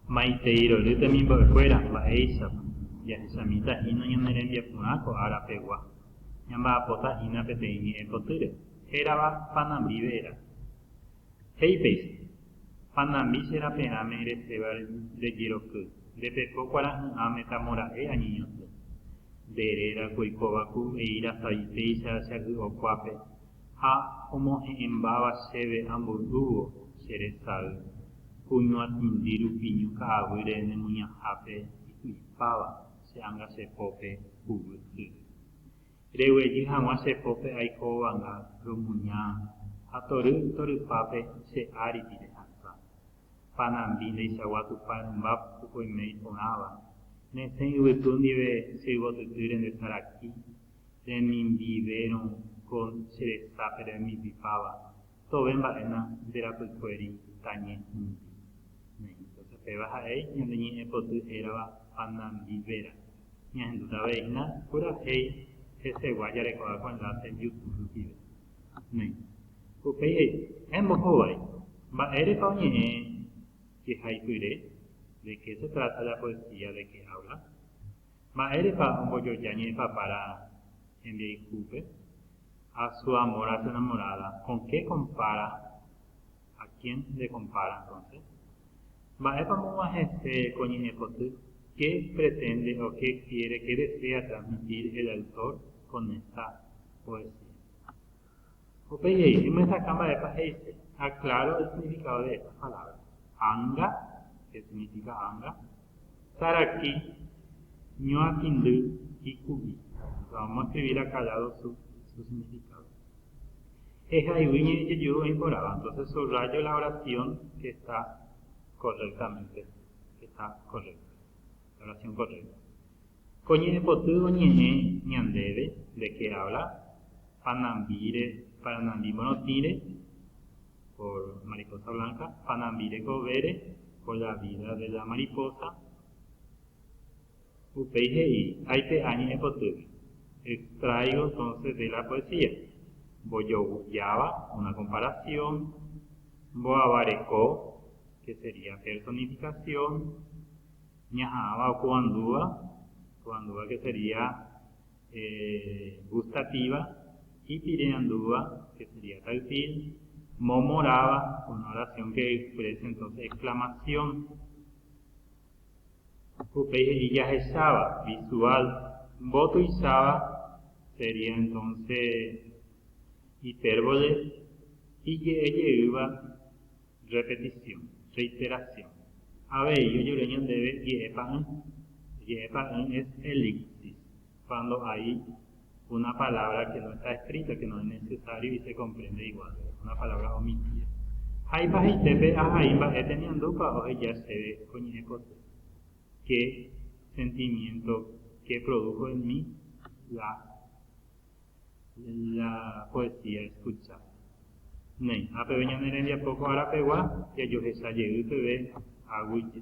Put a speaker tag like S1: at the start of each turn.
S1: Maitei rory temimbo'ekuéra, mba'éichapa? Jahechamíta hína ñane rembiaporã ko ára pegua. Ñamba'apota hína peteĩ ñe'ẽ potýre, hérava Panambi Ve'era. He'i péicha, Panambi che raperãme reséva nde jeroky, nde pepo kuarahy'ã metamora'e añeñotỹ. Nde réra ko oikóva ku eíra savi péicha che agy'o kuápe, ha omohe'ẽmbáva chéve amboy'úvo che resay, ku ñuatĩndi rupi ñu ka'aguýre nemuñahápe iky'ipáva che ánga che pópe huguy yvy. Reguejy hag̃ua che pópe aiko ovanga romuña ha tory torypápe che áripi rehasa. Panambi ndeichagua Tupã rymba pukukue imei porãva, nesẽ yvytu ndive che yvotyty rende saraki, remimbiverõ ko che resa pe remipipáva, tove mba'éna nde rapykuéri tañe hũndi. Entonces péva ja'éi ñande ñe'ẽ poty hérava Panambi Vera. Ñahendúta avei hína purahéi hesegua jarekóva ko enlace Youtube rupive. Upéi he'i, Héẽ mbohovái, mba'érepa oñe'ẽ jehaipyre? De qué se trata la poesía de qué habla? Mba'érepa ombojoja ñe'ẽpapára hembiayhúpe? A su amor a su enamorada, con qué compara? A quién le compara entonces? Mba'épa omoguã hese ko ñe'ẽpoty? Qué pretende o qué quiere, qué desea transmitir el autor con esta poesía? Upéi he'i, Emyesakã mba'épa he'ise. Aclaro el significado de estas palabras. Anga, que significa anga, saraki, ñuakĩndy, iku'i. Vamos a escribir acá ya los su, su significado. Ehaygui ñe'ẽ jejuru oĩ porãva, entonces subrayo la oración que está correctamente, que está correcta, la oración correcta. Ko ñe'ẽpoty oñe'ẽ ñandéve de qué habla panambíre paranambi morotĩre por mariposa blanca, panambi rekovére por la vida de la mariposa. Upéi he'i, aipe'a ñe'ẽpotýgui, extraigo entonces de la poesía, mbojovujáva una comparación, mbo'avareko, que sería personificación, ñaha'ãva okovandúva, okovandúva ke sería gustativa, ipireandúva, ke sería táctil, momoráva, una oración que exprese entonces exclamación, upéi he'i jahecháva, visual, mbotuicháva, sería entonces hipérbole, ije'ejeýva, Repetisiõ, reiterasiõ. Avei ojere ñandéve je'e pa'ỹ. Je'e pa'ỹ es elipsis, cuando hay una palabra que no está escrita, que no es necesario y se comprende igual, una palabra omitida. Haipa heite pe ahai mba'e temiandúpa oheja chéve ko ñe'ẽ poty? Qué sentimiento, qué produjo en mí la. la poesía escuchada. Naiha peve ñane rembiapo ko ára pegua jajohecha jey peve aguije.